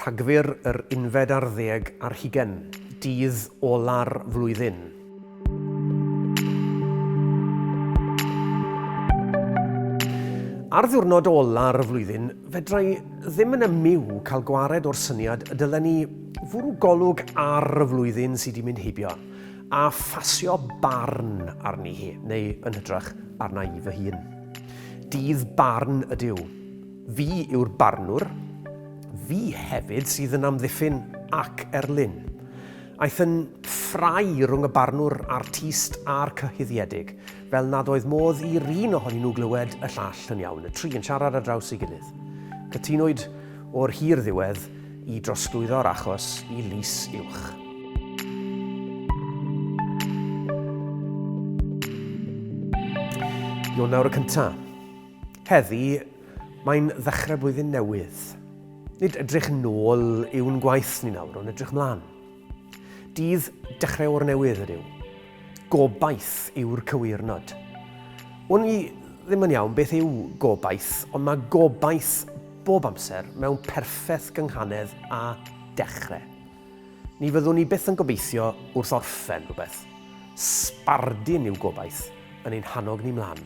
Rhagfyr yr unfed ar ddeg ar hugen, dydd ola'r flwyddyn. Ar ddiwrnod ola'r flwyddyn, fedrai ddim yn ymyw cael gwared o'r syniad y dylen ni fwrw golwg ar y flwyddyn sydd wedi mynd heibio. A phasio barn arni hi, neu yn hytrach arna i fy hun. Dydd barn ydyw. Fi yw'r barnwr. Fi hefyd sydd yn amddiffyn ac erlyn. Aeth yn ffrai rhwng y barnwr artist a'r cyhuddiedig, fel nad oedd modd i'r un ohonyn nhw glywed y llall yn iawn, y tri yn siarad ar draws ei gilydd. Cytunwyd o'r hir ddiwedd i drosglwyddo'r achos i lys uwch. Ionawr y cyntaf. Heddi, mae'n ddechrau blwyddyn newydd. Nid edrych yn ôl yw'n gwaith ni nawr, ond edrych mlaen. Dydd dechrau o'r newydd ydyw. Gobaith yw'r cywirnod. Wn i ddim yn iawn beth yw gobaith, ond mae gobaith bob amser mewn perffaith gynghanedd a dechrau. Ni fyddwn ni byth yn gobeithio wrth orffen rhywbeth. Sbardun yw gobaith yn ein hannog ni mlaen.